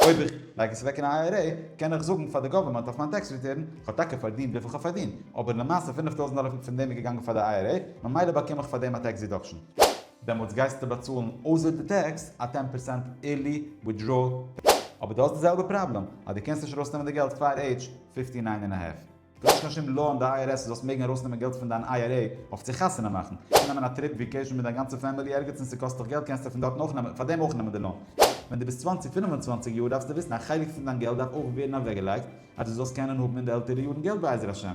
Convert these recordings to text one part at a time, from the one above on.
אויב איך לייג עס אוועק אין א איי אר עי קען איך זאגן פאר די גאווערמענט אויף מיין טעקס ריטורן איך האב טאקע פארדינט וויפיל כ'האב פארדינט אבער למעשה פֿינף טויזנט דאלער פון דעם איז געגאנגען פאר די איי אר עי ממילא באקום איך פאר דעם א טעקס דידאקשן. דעמאלטס גייסטו באצאלן אויסער די טעקס א טען פערסענט עירלי וויטדראול. אבער דו האסט די זעלבע פראבלעם אז דו קענסט נישט ארויסנעמען די געלט פאר עידזש פֿיפֿטי נײַן און א האלף. דו האסט קיין שום לאו אין די IRS זאלסט מעגן ארויסנעמען געלט פון דיין IRA אויף צו חתונה מאכן. קענסט נעמען א טריפ וויקעישן מיט דיין גאנצע פעמילי ערגעץ און ס'קאסט דיך געלט קענסטו פון דארטן אויך נעמען, פארדעם אויך נעמען די לאון. ווען דו ביסט צוואַנציק פינף און צוואַנציק יאר דארפסטו וויסן א חלק פון דיין געלט דארף אויך ווערן אוועקגעלייגט אז דו זאלסט קענען האבן אין די עלטערע יארן געלט בעזר השם.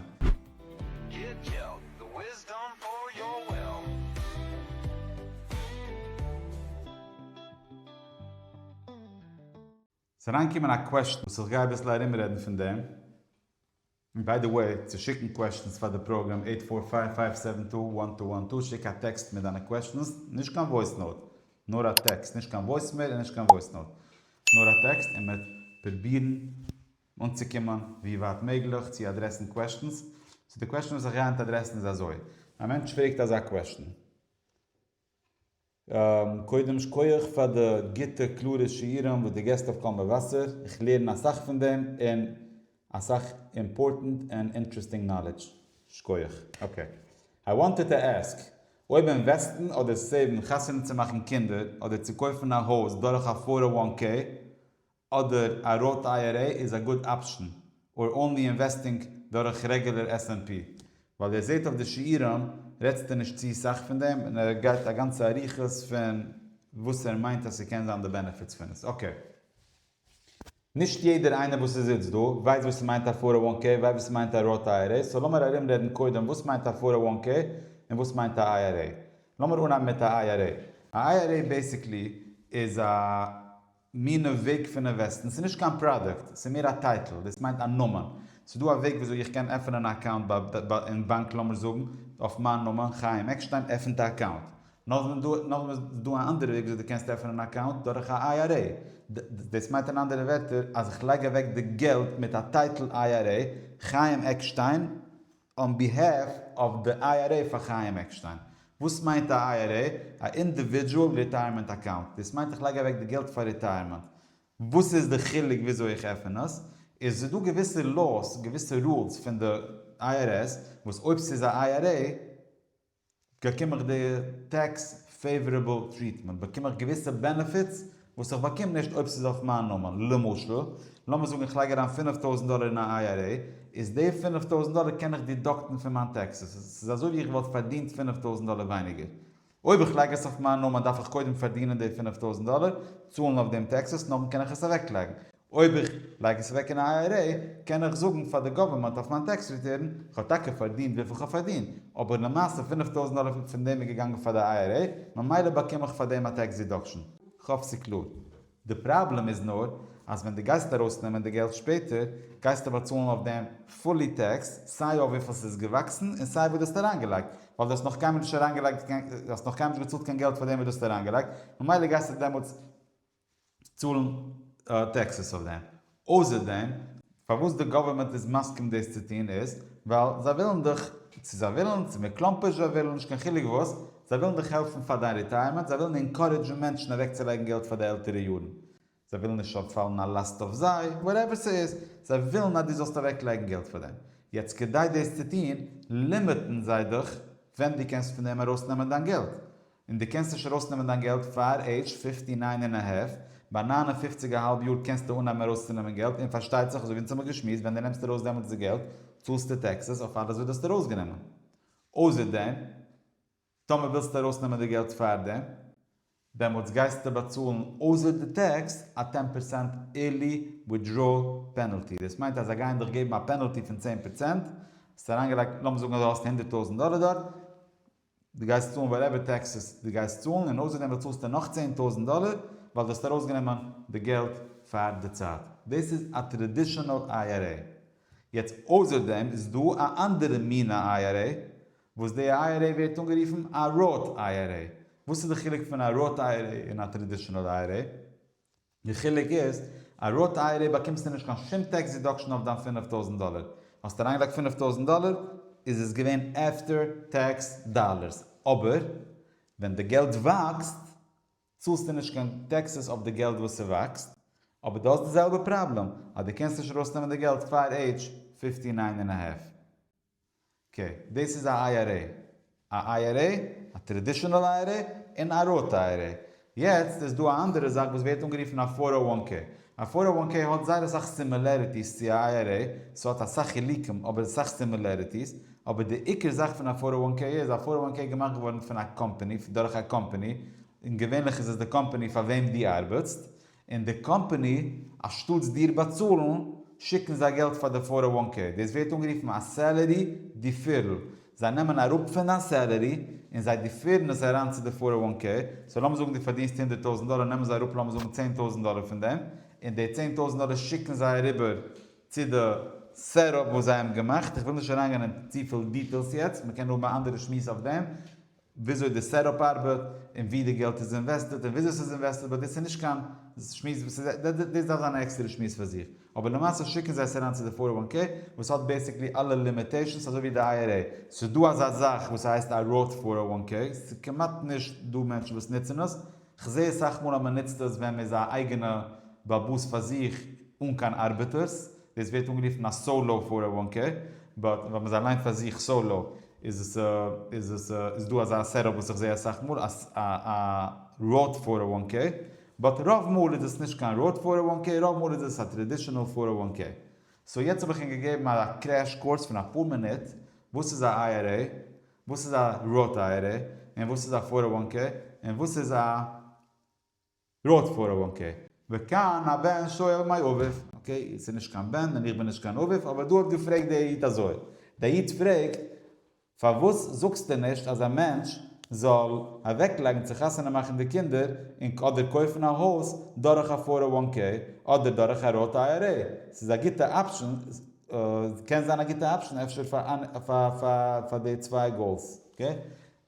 ס'איז אריינגעקומען א קוועשטן וואס איך גיי אביסל ארומרעדן פון דעם. און ביי די וועי, צו שיקן קוועשטנס פאר די פראגראם עיט פאר פייוו פייוו סעווען טו וואן טו וואן טו שיק א טעקסט מיט דיינע קוועשטנס, נישט קיין וואויס נאוט, נאר א טעקסט, נישט קיין וואויסמעיל און נישט קיין וואויס נאוט, נאר א טעקסט, און מ'וועט פרובירן אנצוקומען ווי ווייט מעגליך צו אדרעסן קוועשטנס. סאו די קוועשטן וואס איך גיי היינט אדרעסן איז אזוי, א מענטש פרעגט אזא קוועשטן. קודם שכויעך פאר די גוטע קלארע שיעורים וואס די געסט אויף קול מבשר, איך לערן אסאך פון דעם און אסאך אימפארטענט און אינטרעסטינג נאלעדזש, שכויעך. אקעי. איי וואנטעד טו עסק, אויב אינוועסטן אדער סעיוון חתונה צו מאכן קינדער אדער צו קויפן א הויז דורך א פאר אוואן קעי אדער א ראט איי-אר-עי איז א גוד אפשן, אר אנלי אינוועסטינג דורך רעגולער עס ענד פי? ווייל איר זעהט אויף די שיעורים רעדסטו נישט צו סאך פון דעם און ער גייט א גאנצע אריכות פון וואס ער מיינט אז ס'קען זיין די בענעפיטס פון עס. אקעי. נישט יעדער איינער וואס איז איצט דא ווייסט וואס ס'מיינט א פאר אוואן קעי ווייסט וואס ס'מיינט א ראט איי-אר-עי סאו לאמיר ארומרעדן קודם וואס מיינט א פאר אוואן קעי און וואס מיינט א איי-אר-עי. לאמיר אנהייבן מיט א איי-אר-עי. א איי-אר-עי בעיסיקלי איז א. מינע וועג פונען וועסטן, ס'איז נישט קיין פראדוקט, ס'איז מער א טייטל, דאס מיינט א נאמען, ס'איז דא א וועג וויאזוי איך קען עפענען א אקאונט ביי אין באנק לאמיר זאגן אויף מיין נאמען חיים עקשטיין עפענט א אקאונט, נאכדעם דא נאכדעם איז דא א אנדערע וועג וויאזוי דו קענסט עפענען א אקאונט דורך א איי אר עי, דאס מיינט אין אנדערע ווערטער אז איך לייג אוועק די געלט מיט א טייטל איי אר עי חיים עקשטיין, אן ביהעף אוו די איי אר עי פאר חיים עקשטיין. וואס מיינט א איי אר עי? א אינדיווידזשועל ריטייערמענט אקאונט. דאס מיינט איך לייג אוועק די געלט פאר ריטייערמענט. וואס איז די חילוק וויאזוי איך עפען עס? איז דא געוויסע לאוס, געוויסע רולס פון די איי אר עס, וואס אויב ס'איז א איי אר עי, באקום איך די טעקס פעיווארעבל טריעטמענט? באקום איך געוויסע בענעפיטס וואס איך באקום נישט אויב ס'איז אויף מיין נאמען? למשל, לאמיר זאגן איך לייג אריין פֿינף טויזנט דאלער אין א IRA, איז די פֿינף טויזנט דאלער קען איך דידאקטן פון מיין טעקסעס, ס'איז אזוי ווי איך וואלט פארדינט פֿינף טויזנט דאלער ווייניגער. אויב איך לייג עס אויף מיין נאמען דארף איך קודם פארדינען די פֿינף טויזנט דאלער, צאלן אויף דעם טעקסעס, נאכדעם קען איך עס אוועקלייגן. אויב איך לייג עס אוועק אין א IRA קען איך זאגן פאר די גאווערמענט אויף מיין טעקס ריטורן איך האב טאקע פארדינט וויפיל כ'האב פארדינט אבער למעשה פֿינף טויזנט דאלער פון דעם איז געגאנגען פאר די IRA ממילא באקום איך פאר דעם א טעקס דידאקשן. כ'האף ס'איז קלאר. די פראבלעם איז נאר אז ווען דו גייסט ארויסנעמען די געלט שפעטער גייסטו באצאלן אויף דעם פולי טעקס סיי אויף וויפיל ס'איז געוואקסן און סיי וואס דו האסט אריינגעלייגט ווייל דו האסט נאך קיינמאל נישט אריינגעלייגט קיין דו האסט נאך קיינמאל נישט געצאלט קיין געלט פאר דעם וואס דו האסט אריינגעלייגט ממילא גייסטו דעמאלטס צאלן טעקסעס אויף דעם. אויסער דעם, פארוואס די גאווערמענט איז מסכים דאס צו טון איז, ווייל זיי ווילן דיך, צו זיי ווילן, צו מען קלאמפערשט זיי ווילן, נישט קיין חילוק וואס, זיי ווילן דיך העלפן פאר דיין ריטייערמענט, זיי ווילן אינקארעדזשן מענטשן אוועקצולייגן געלט פאר די עלטערע יארן, זיי ווילן נישט ס'זאל פאלן א לאסט אויף זיי, וואטעווער ס'איז, זיי ווילן אז דו זאלסט אוועקלייגן געלט פאר דעם. יעצט כדי דאס צו טון, לימיטן זיי דיך ווען דו קענסט פון דעם ארויסנעמען דיין געלט. און דו קענסט נישט ארויסנעמען דיין געלט פאר עידזש פיפטי ניין און א האלף, ביי ניין און פופציג א האלב יאר קענסטו אנהייבן ארויסצונעמען געלט, און פארשטייט זיך אזויווי אונז האבן געשמועסט ווען דו נעמסט ארויס דעמאלטס די געלט צאלסטו טעקסעס אויף אלעס וואס דו האסט ארויסגענומען. אויסער דעם, טאמער ווילסטו ארויסנעמען די געלט פאר דעם, דעמאלטס גייסטו באצאלן אויסער די טעקס א טען פערסענט ערלי ווידראול פענעלטי, דאס מיינט אז זיי גייען דיך געבן א פענעלטי פון צען פערסענט, האסט אריינגעלייגט, לאמיר זאגן אז דו האסט הונדערט טויזנט דאלער דארט, דו גייסט צאלן וואטעווער טעקסעס דו גייסט צאלן און אויסערדעם באצאלסטו נאך צען טויזנט דאלער ווייל דו האסט ארויסגענומען די געלט פאר די צייט. דאס איז א טראדישענעל איי אר עי. יעצט אויסער דעם איז דא א אנדערע מינע איי אר עי וואס די איי אר עי ווערט אנגערופן א ראט איי אר עי. וואס איז די חילוק פון א ראט איי אר עי און א טראדישענעל איי אר עי? די חילוק איז, א ראט אייערע באקומסטו נישט קיין שום טעקס דידאקשען אויף דיין פֿינף טויזנט דאלער. האסט אריינגעלייגט פֿינף טויזנט דאלער איז עס געווען עפטער טעקס דאלערס. אבער ווען די געלט וואקסט צאלסטו נישט קיין טעקסעס אויף די געלט וואס ס'וואקסט. אבער דו האסט די זעלבע פראבלעם אז דו קענסט נישט ארויסנעמען די געלט פאר עידזש פֿיפֿטי נײַן און א האלף. ק, דאס איז א IRA. א IRA, א טרעדישענעל IRA, און א ראט IRA. יעצט איז דא א אנדערע זאך וואס ווערט אנגערופן א פאר אר וואן קעי. א פאר אר וואן קעי האט זייער אסאך סימילעריטיס צו א IRA, ס'האט אסאך חילוקים אבער אסאך סימילעריטיס, אבער די עיקר זאך פון א פאר אר וואן קעי איז א פאר אר וואן קעי געמאכט געווארן פון א קאמפעני, דורך א קאמפעני, און געווענליך איז עס די קאמפעני פאר וועם דו ארבעטסט, און די קאמפאני אנשטאטס דיר באצאלן שיקן זיי געלט פאר די פאר און וואן קעי, דאס ווערט אנגערופן א סעלערי דיפירל, זיי נעמען אראפ פון דיין סעלערי און זיי דיפירן עס אריין צו די פאר און וואן קעי, סאו לאמיר זאגן דו פארדינסט הונדערט טויזנט דאלער נעמען זיי אראפ לאמיר זאגן צען טויזנט דאלער פון דעם און די צען טויזנט דאלער שיקן זיי אריבער צו די סעט-אפ וואס זיי האבן געמאכט, איך וויל נישט אריינגיין אין צופיל דיטעילס יעצט, מען קען האבן א אנדערע שמועס אויף דעם, וויאזוי די סעטאפ ארבעט, און ווי די געלט איז אינוועסטעט, און וויאזוי ס'איז אינוועסטעט, באט דאס איז נישט קיין שמועס וואס איז, דאס דארף זיין א עקסטערע שמועס פאר זיך, אבער למעשה שיקן זיי עס אריין צו די פאר און וואן קעי, וואס האט בעסיקלי אלע לימיטעישאנס אזוי ווי די איי אר עי, ס'איז דא אזא זאך וואס הייסט א ראוט פאר און וואן קעי, ס'איז כמעט נישט דא מענטשן וואס נוצן עס, כ'זע אסאך מאל אז מ'נוצט עס ווען מ'איז א אייגענע בעל באס פאר זיך אן קיין ארבעטערס, דאס ווערט אנגערופן א סאולאו פאר א וואן קעי, באט ווען מ'איז אליין פאר זיך סאולאו איז עס איז עס איז דא אזא סעט אפ וואס איך זע אסאך מאל אז א א ראוט פאר א וואן קעי, באט רוב מאל איז עס נישט קיין ראוט פאר א וואן קעי רוב מאל איז עס א טרעדישענעל פאר א וואן קעי. סאו יעצט האב איך ענק געגעבן א קרעש קורס פון אפאר מינוט וואס איז א IRA, וואס איז א ראוט IRA, און וואס איז א פאר א וואן קעי, און וואס איז א. רוט פאר א וואן קעי. וכאן הבן שואל מאי אביו, אקעי עס איז נישט קיין בן און איך בין נישט קיין אביו אבער דא האט געפרעגט דער איד אזוי, דער איד פרעגט פארוואס זאגסטו נישט אז א מענטש זאל אוועק לייגן צו חתונה מאכן די קינדער און אדער קויפן א הויז דורך א פאר א וואן קעי אדער דורך א רוט איי אר עי ס'איז א גוטע אפשען קען זיין א גוטע אפשען אפשר פאר די צוויי גאולס אקעי.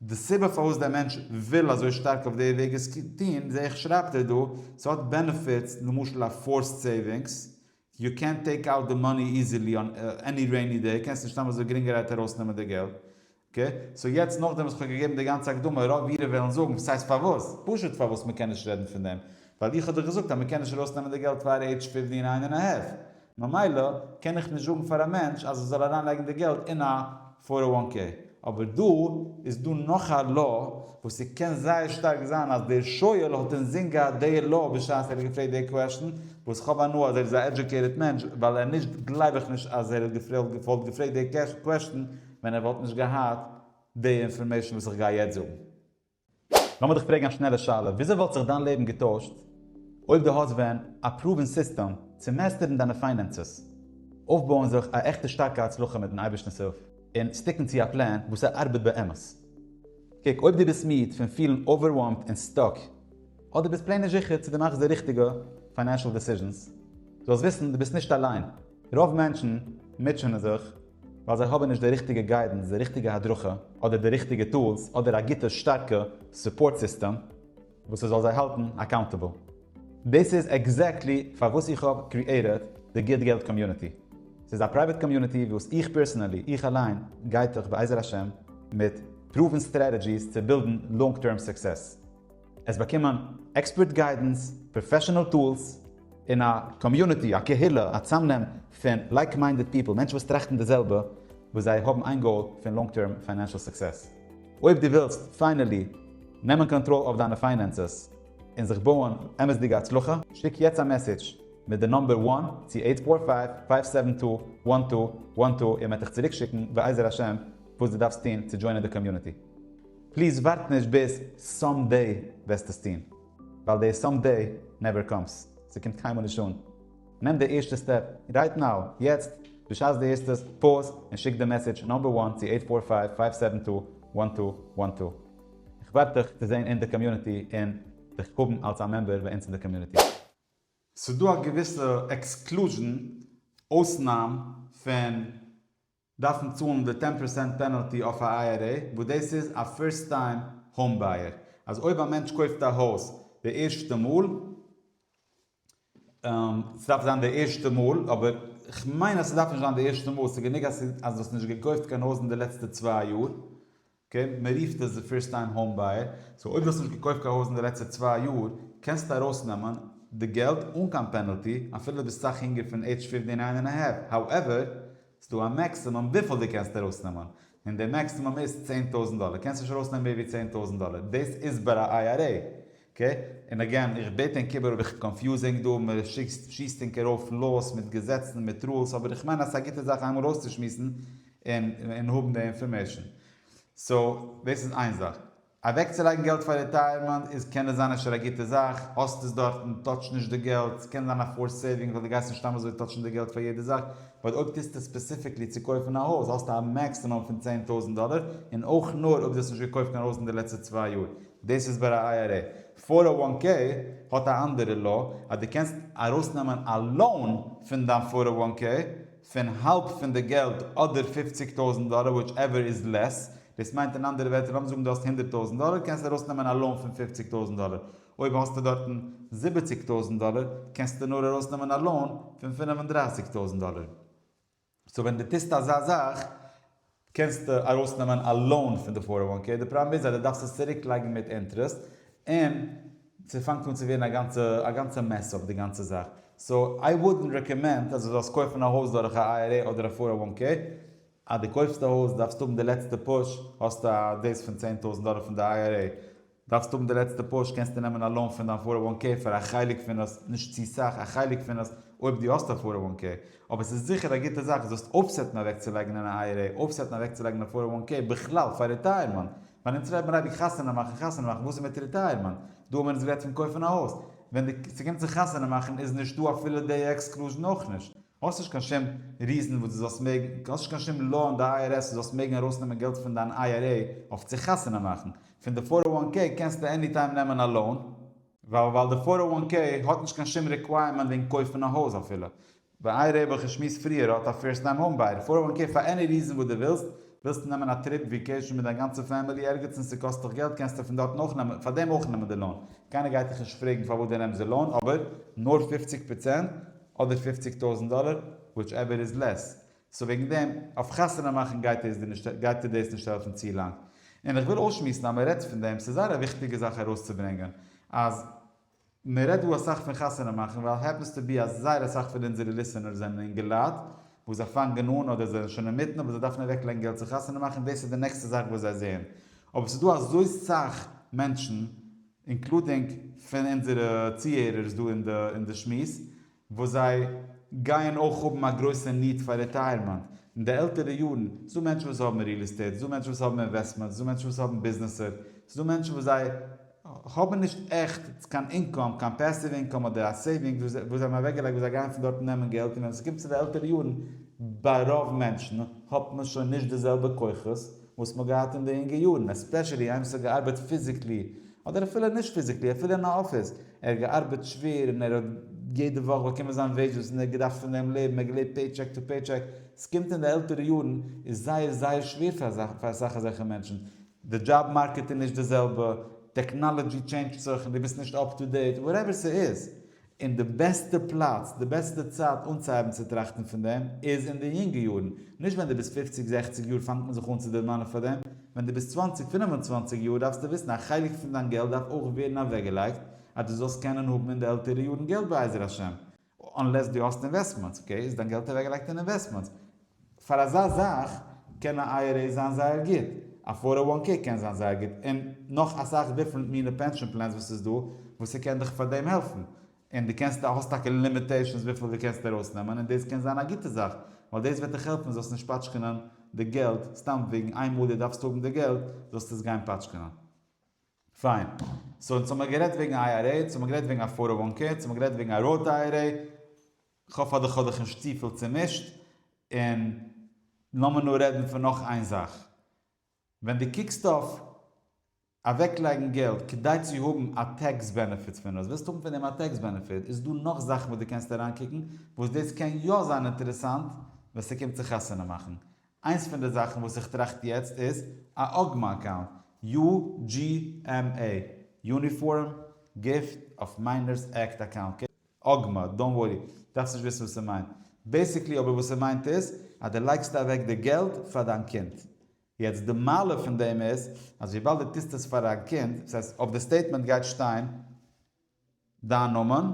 די סיבה פארוואס דער מענטש וויל אזוי שטארק אויף די וועג עס טוהן זעה איך שרייבט ער דא, ס'האט בענעפיטס, למשל א פארסט סעיווינגס, יו קענט טעיק אוט די מאני איזילי אן עני רעיני דעי, קענסט נישט סתם אזוי גרינגערהייט ארויס נעמען די געלט, אקעי, סאו יעצט נאכדעם וואס כ'האב געגעבן די גאנצע הקדמה, רוב אירע וועלן זאגן וואס הייסט פארוואס, פשוט פארוואס מ'קען נישט רעדן פון דעם, ווייל איך האב דאך געזאגט אז מ'קען נישט ארויס נעמען די געלט פאר עידזש פֿופֿצן און איין און א האלף, ממילא קען איך נישט זאגן פאר א מענטש אז ער זאל אריין לייגן די געלט אין א פאר און וואן קעי. אבער דא איז דא נאך א law וואס ס'קען זייער שטארק זיין אז דער שואל האט אינזין געהאט די law בשעת ער האט געפרעגט די קוועשטן, וואס כ'האב הנאה אז ער איז א עדזשוקעיטעד מענטש, ווייל ער נישט גלייב איך נישט אז ער האט געוואלט געפרעגט די קוועשטן ווען ער וואלט נישט געהאט די אינפארמעישן וואס איך גיי יעצט זאגן. לאמיר דיך פרעגן א שנעלע שאלה, וויאזוי וואלט זיך דיין לעבן געטוישט אויב דו האסט ווען א פרואוון סיסטעם צו מעסטערן דיינע פיינענסעס, אויפבויען זיך א עכטע שטארקע הצלחה מיטן אייבערשטנ'ס הילף, און סטיקן צו א פלען וואס ער ארבעט באמת? קוק, אויב דו ביסט מיד פון פילן אווערוועלמד און סטאק, אדער ביסט פלעין נישט זיכער צו דו מאכסט די ריכטיגע פיינענשאל דעסיזשענס, זאלסט וויסן דו ביסט נישט אליין. רוב מענטשן מוטשענען זיך ווייל זיי האבן נישט די ריכטיגע גיידענס, די ריכטיגע הדרכה, אדער די ריכטיגע טולס, אדער א גוטע שטארקע סופארט סיסטעם וואס ס'זאל זיי האלטן אקאונטעבל. דאס איז עקזעקטלי פארוואס איך האב קריעטעד די גוט געלט קאמיוניטי. ס'איז א פרייוועט קאמיוניטי וואס איך פערסענעלי, איך אליין, גיידט אייך בעזר השם מיט פרואוון סטרעטעדזשיס צו בילדן לאנג טערם סוקסעס. עס באקומען עקספערט גיידענס, פראפעשענעל טולס, און א קאמיוניטי, א קהילה, א צאמנעם פון לייק מיינדעד פיפל, מענטשן וואס טראכטן די זעלבע, וואס זיי האבן איין גאול פון לאנג טערם פיינענשעל סוקסעס. אויב דו ווילסט פיינעלי נעמען קאנטראל אויף דיינע פיינענסעס און זיך בויען אמת'דיגע הצלחה, שיק יעצט א מעסעדזש מיט די נומבער וואן צו אייט פאר פייוו פייוו סעווען טו וואן טו וואן טו און מען וועט דיך צוריקשיקן בעזר השם וואס דו דארפסט טון צו דזשוינען די קאמיוניטי. פליז ווארט נישט ביז סאם דעי וועסט עס טון, ווייל די סאם דעי נעווער קאמס, ס'קומט קיינמאל נישט אן, נעם די ערשטע סטעפ רייט נאו, יעצט, בשעת דו הערסט עס, פאוז און שיק די מעסעדזש נאמבער וואן צו עיט פאר פייוו פייוו סעווען טו וואן טו וואן טו. איך ווארט דיך צו זען אין די קאמיוניטי און דיך האבן אלס א מעמבער ביי אונז אין די קאמיוניטי. ס'דא א געוויסע עקסקלוזשן, אויסנאם, פון דארפן צאלן די טען פראסענט פענעלטי אויף א IRA וואס דאס איז א פירסט טיים האום בייער אז אויב א מענטש קויפט א הויז די ערשטע מאל סדארף זיין די ערשטע מאל אבער כ'מיין אז סדארף נישט זיין די ערשטע מאל סגענוג אז דו האסט נישט געקויפט קיין הויז אין די לעצטע צוויי יאר אקעי, מען רופט עס די פירסט טיים האום בייער, סאו אויב דו האסט נישט געקויפט קיין הויז אין די לעצטע צוויי יאר, קענסטו ארויסנעמען די געלט אן קיין פענעלטי, אפילו דו ביסט סאך יונגער פון עידזש פיפטי ניין ענד א האלף, האועווער, ס'דא א מעקסימום וויפיל דו קענסט ארויסנעמען, און די מעקסימום איז צען טויזנט דאלער, קענסט נישט ארויסנעמען מער ווי צען טויזנט דאלער, דאס איז ביי א IRA. ק, און אגעין, איך בעט ענק איבער אויב איך קאנפיוז ענק דא, מען שיסט ענק ארויף לאוס מיט געזעצן און מיט רולס, אבער איך מיין אז ס'איז א גוטע זאך איינמאל אויסצושמועסן און און האבן די אינפארמעישן. סאו, דאס איז איין זאך. אוועקצולייגן געלט פאר ריטייערמענט איז קען עס זיין אפשר א גוטע זאך, האסט עס דארטן, טאטש נישט די געלט, ס'קען זיין א פארסט סעיווינג ווייל דו גייסט נישט סתם אזוי טאטשן די געלט פאר יעדע זאך, באט אויב טוסטו ספעסיפיקלי צו קויפן א הויז האסטו א מעקסימום פון צען טויזנט דאלער, און אויך נאר אויב דו האסט נישט געקויפט קיין הויז אין די לעצטע צוויי יאר. דאס איז ביי א איי אר עי. פאר א וואן קעי האט א אנדערע law אז דו קענסט ארויסנעמען א לאון פון דיין פאר א וואן קעי פון האלב פון די געלט אדער פופציג טויזענט דאלער וויטש עווער איז לעס. דאס מיינט אין אנדערע ווערטער לאמיר זאגן דו האסט הונדערט טויזענט דאלער קענסטו ארויסנעמען א לאון פון פופציג טויזענט דאלער. אויב האסטו דארטן זיבעציג טויזענט דאלער קענסטו נאר ארויסנעמען א לאון פון פינף און דרייסיג טויזענט דאלער. סאו ווען דו טוסט אזא זאך קענסטו ארויסנעמען א לאון פון די פאר אוואן קעי, די פראבלעם איז אז דו דארפסט עס צוריק לייגן מיט אינטרעסט, און ס'פאנגט אן צו ווערן א גאנצע א גאנצע מעס אויף די גאנצע זאך, סאו איי וואודענט רעקאמענד אז דו זאלסט קויפן א הויז דורך א IRA אדער א פאר אוואן קעי, אז דו קויפסט א הויז דארפסטו האבן די לעצטע פוש, האסטו א דאס פון צען טויזענט דאלער פון די IRA, דארפסט האבן די לעצטע פוש, קענסטו נעמען א לאון פון דיין פאר אוו וואן קעי פאר א חלק פון עס, נישט צו סאך, א חלק פון עס, אויב דו האסט א פאר אוו וואן קעי, אבער עס איז זיכער א גוטע זאך זאלסט אויפסעטן אוועקצולייגן אין א IRA, אויפסעטן אוועקצולייגן א פאר אוו וואן קעי בכלל פאר ריטייערמענט, ווייל אונז רעדט מען אייביג חתונה מאכן חתונה מאכן, וואס איז מיט ריטייערמענט? דא האבן מיר אונז גערעדט פון קויפן א הויז, ווען די ס'קומט צו חתונה מאכן איז נישט דא אפילו די עקסקלוזשן אויך נישט, האסט נישט קיין שום ריזען וואס דו זאלסט מעגן, האסט נישט קיין שום לאו אין די IRS וואס זאלסט מעגן ארויסנעמען געלט פון דיין IRA אויף צו חתונה מאכן, פון די פאר און וואן קעי קענסטו עני טיים נעמען א לאון. ווייל ווייל די פאר און וואן קעי האט נישט קיין שום ריקווייערמענט וועגן קויפן א הויז אפילו ווען אייער רעבע וואס איך שמועס פריער האט א פירסט טיים האום בייער פאר און וואן קעי פאר עני ריזען וואס די ווילסט ווילסטו נעמען א טריפ וויקעישן מיט דיין גאנצע פעמילי ערגעץ און ס'קאסט דיך געלט קענסטו פון דארטן אויך נעמען פאר דעם אויך נעמען די לאון קיינער גייט דיך נישט פרעגן פארוואס די נעמסט די לאון אבער נאר פופציג פראצענט אדער פופציג טויזענט דאלער וויטש עווער איז לעס סאו וועגן דעם, אויף חתונה מאכן גייט עס דיר נישט גייט דיר דאס נישט העלפן צו לאנג. און איך וויל אויסשמועסן אז מען רעדט פון דעם, ס'איז זייער א וויכטיגע זאך ארויסצוברענגען, אז מען רעדט דא אסאך פון חתונה מאכן, ווייל העפענס טו בי אז זייער אסאך פון אונזערע ליסענערס זענען אינגעלייט וואס זיי פאנגען אן אדער זיי זענען שוין אינמיטן אבער זיי דארפן אוועקלייגן געלט צו חתונה מאכן און דאס איז די נעקסטע זאך וואס זיי זעען. אבער ס'איז דא אזוי סאך מענטשן, אינקלודינג פון אונזערע צוהערערס דא אין די אין די שמועס, וואס זיי גייען אויך האבן א גרויסע ניד פאר רעטייערמענט אין די עלטערע יארן, ס'איז דא מענטשן וואס האבן ריעל עסטעיט, ס'איז דא מענטשן וואס האבן אינוועסטמענטס, ס'איז דא מענטשן וואס האבן ביזנעסער, ס'איז דא מענטשן וואס זיי האבן נישט עכט קיין אינקאם, קיין פעסיוו אינקאם אדער א סעיווינגס וואס זיי האבן אוועקגעלייגט וואס זיי גייען פון דארטן נעמען געלט און ווען עס קומט צו די עלטערע יארן ביי רוב מענטשן האט מען שוין נישט די זעלבע כוחות, וואס מ'האט געהאט אין די אינגע יארן, עספעשעלי איימס האט געארבעט פיזיקלי, אדער אפילו נישט פיזיקלי, אפילו אין א אפיס, ער האט געארבעט שווער און ער האט יעדע וואך באקומען זיין וועידזשעס און ער האט געדארפט פון דעם לעבן, ער האט געלעבט פעי טשעק טו פעי טשעק, עס קומט אין די עלטערע יארן איז זייער זייער שווער פאר אזאך פאר אסאך אזעלכע מענטשן, די דזשאב מארקעט איז נישט די זעלבע, טעקנאלעדזשי טשעינדזשט זיך און דו ביסט נישט אפ טו דעיט, וואטעווער ס'איז, און די בעסטע פלאץ, די בעסטע צייט אנצוהייבן צו טראכטן פון דעם איז אין די יונגע יארן, נישט ווען דו ביסט פופציג זעכציג יאר פאנגט מען זיך אן צו דערמאנען פאר דעם, ווען דו ביסט צוואנציג פינף און צוואנציג יאר דארפסטו וויסן א חלק פון דיין געלט דארף אויך ווערן אוועקגעלייגט אז דו זאלסט קענען האבן אין די עלטערע יארן געלט בעזר השם, אנלעס דו האסט אינוועסטמענטס, אקעי איז דיין געלט אוועקגעלייגט אין אינוועסטמענטס, פאר אזא זאך קען א איי אר עי זיין זייער גוט, א פאר אר וואן קעי קען זיין זייער גוט, און נאך אסאך דיפרענט מינע פענשאן פלענס וואס ס'איז דא, וואס ס'קען דיך פאר דעם העלפן, און דו קענסט האסט טאקע לימיטעישאנס וויפיל דו קענסט ארויס נעמען, און דאס קען זיין א גוטע זאך, ווייל דאס וועט דיך העלפן זאלסט נישט פאטשקענען די געלט סתם וועגן איינמאל דו דארפסט האבן די געלט זאלסטו עס גיין פאטשקענען. פיין. סאו אונז האמער גערעדט וועגן א איי אר עי, אונז האמער גערעדט וועגן א פאר אר וואן קעי, אונז האמער גערעדט וועגן א ראט איי אר עי, כ'האף אז כ'האב דיך נישט צופיל צומישט, און לאמיר נאר רעדן פון נאך איין זאך. ווען דו קוקסט אויף אוועקלייגן געלט כדי צו האבן א טעקס בענעפיט פון עס, ווילסט האבן פון דעם א טעקס בענעפיט, איז דא נאך זאכן וואס דו קענסט אריינקוקן וואס דאס קען יא זיין אינטערעסאנט ווען ס'קומט צו חתונה מאכן. איינס פון די זאכן וואס איך טראכט יעצט איז א אגמא אקאונט, UGMA, יוניפארם גיפט אף מיינערס עקט אקאונט. אגמא, דאנט ווארי, דארפסט נישט וויסן וואס ער מיינט. בעיסיקלי אבער וואס ער מיינט איז, אז דו לייגסט אוועק די געלט פאר דיין קינד. יעצט די מעלה פון דעם איז, אז וויבאלד דו טוסט עס פאר דיין קינד, דאס הייסט אויף די סטעיטמענט גייט שטיין דיין נאמען,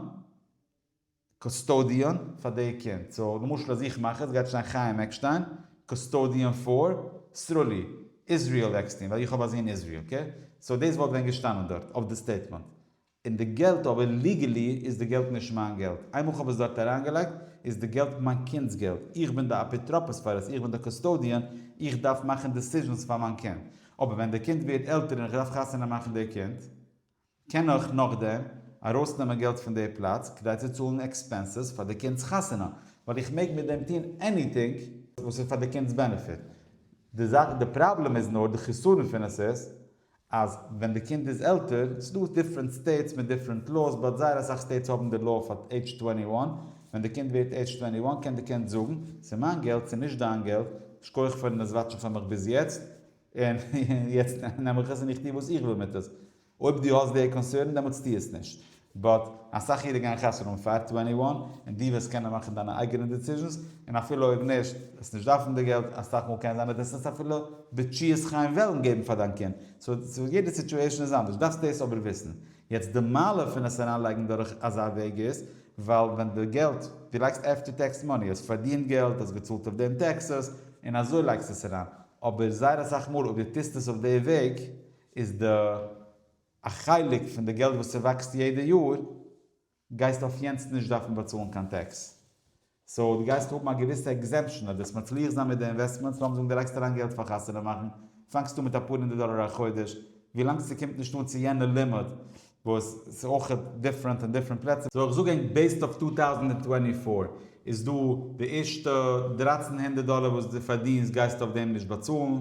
קוסטאדיען פאר די קינד. סאו למשל אז איך מאך עס גייט שטיין חיים עקשטיין, קוסטאדיען פאר סרולי, איזריעל עקסטין, ווייל איך האב א זון איזריעל. אקעי? סאו דאס וואלט ווען געשטאנען דארט אויף די סטעיטמענט. און די געלט אבער ליגעלי איז די געלט נישט מיין געלט, איינמאל כ'האב עס דארט אריינגעלייגט איז די געלט מיין קינד'ס געלט, איך בין די אפיטרופוס פאר עס, איך בין די קאסטאדיען, איך דארף מאכן דעסיזשענס פאר מיין קינד, אבער ווען די קינד ווערט עלטער און איך דארף חתונה מאכן די קינד, קען איך נאכדעם ארויסנעמען געלט פון די פלאץ כדי צו צאלן עקספענסעס פאר די קינד'ס חתונה, ווייל איך מעג מיט דעם טון עניטינג וואס איז פאר די קינד'ס בענעפיט, די זאך, די פראבלעם איז נאר, די חסרון פון עס איז, אז ווען די קינד איז עלטער, ס'דא דיפרענט סטעיטס מיט דיפרענט לאוס, באט זייער אסאך סטעיטס האבן די לאו פאר עידזש טווענטי וואן, ווען די קינד ווערט עידזש טווענטי וואן קען די קינד זאגן, ס'איז מיין געלט, ס'איז נישט דיין געלט, שכוח פארן עס וואטשן פאר מיך ביז יעצט, און יעצט נעם איך עס און איך טו וואס איך וויל מיט עס. אויב דו האסט די קאנסערן דעמאלטס טו עס נישט. באט אסאך אידן גייען כסדר אן פאר טווענטי וואן, און דו וועסט קענען מאכן דיינע אייגענע דיסיזשענס, און אפילו אויב נישט, וועסט נישט דארפן די געלט, אסאך מאל קען זיין אז דאס וועסט אפילו בתשיית חיים וועלן געבן פאר דיין קינד, סאו יעדע סיטואשען איז אנדערש, דארפסט דאס אבער וויסן. יעצט די מעלה פון עס אריינלייגן דורך אזא וועג איז, ווייל ווען די געלט, דו לייגסט עפטער טעקס מאני, האסט פארדינט געלט, האסט געצאלט אויף דעם טעקסעס, און אזוי לייגסטו עס אריין, אבער זייער אסאך מאל אויב דו טוסט עס אויף די וועג, איז די. א חלק פון די געלט וואס ס'וואקסט יעדע יאר גייסטו אויף יענס נישט דארפן באצאלן קיין טעקס, סאו דו גייסט האבן א געוויסע עקזעמפשן, אויב וועסט מצליח זיין מיט די אינוועסטמענטס, לאמיר זאגן דו לייגסט אריין געלט פאר חתונה מאכן, פאנגסט אן מיט אפאר הונדערט דאלער א חודש, ווילאנג ס'קומט נישט אן צו יענע לימיט, וואס ס'איז אויכעט דיפרענט אין דיפרענט פלעצער. סאו איך זאג ענק בעיסד אויף צוויי טויזנט טווענטי פֿיר, איז דא די ערשטע דרײַצן הונדערט דאלער וואס די פארדינסט גייסטו אויף דעם נישט באצאלן,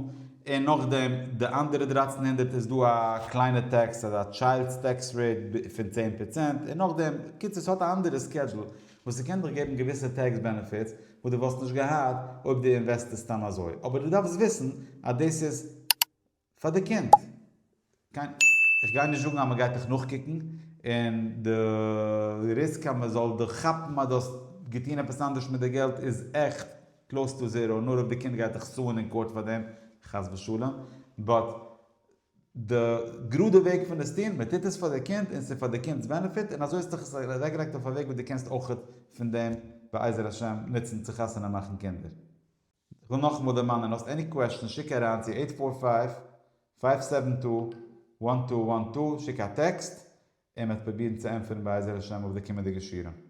און נאכדעם די אנדערע דרײַצן הונדערט איז דא א קליינע טעקס אזא טשיילדס טעקס רעיט פון צען פראצענט און נאכדעם, קיצור ס'האט א אנדערע סקעדזשול וואס ס'קען דיך געבן געוויסע טעקס בענעפיטס וואס די וואלסט נישט געהאט אויב די אינוועסטערסט סתם אזוי, אבער די דארפסט וויסן אז דאס איז. פאר די קינד. קיין. איך גיי נישט זאגן אז מ'גייט דיך נאכקוקן, און די ריסק אז מ'זאל דיך כאפן אז דו האסט געטון עפעס אנדערש מיט די געלט איז עכט קלאוס טו זערא, נאר אויב די קינד גייט דיך סוען אין קאורט פאר דעם, חס ושלום. באט די גראדע וועג פון עס טון, מ'טוט עס פאר די קינד און ס'איז פאר די קינד'ס בענעפיט, און אזוי האסטו עס אוועקגעלייגט אויף א וועג וואס דו קענסט אויכעט פון דעם בעזר השם נוצן צו חתונה מאכן קינדער. איך וויל נאכאמאל דערמאנען, האסט עני קוועשאן שיק אריין צו עיט פאר פייוו, פייוו סעווען טו, וואן טו וואן טו, שיק א טעקסט, און מ'עט פרובירן צו ענטפערן בעזר השם אויף די קומענדיגע שיעורים.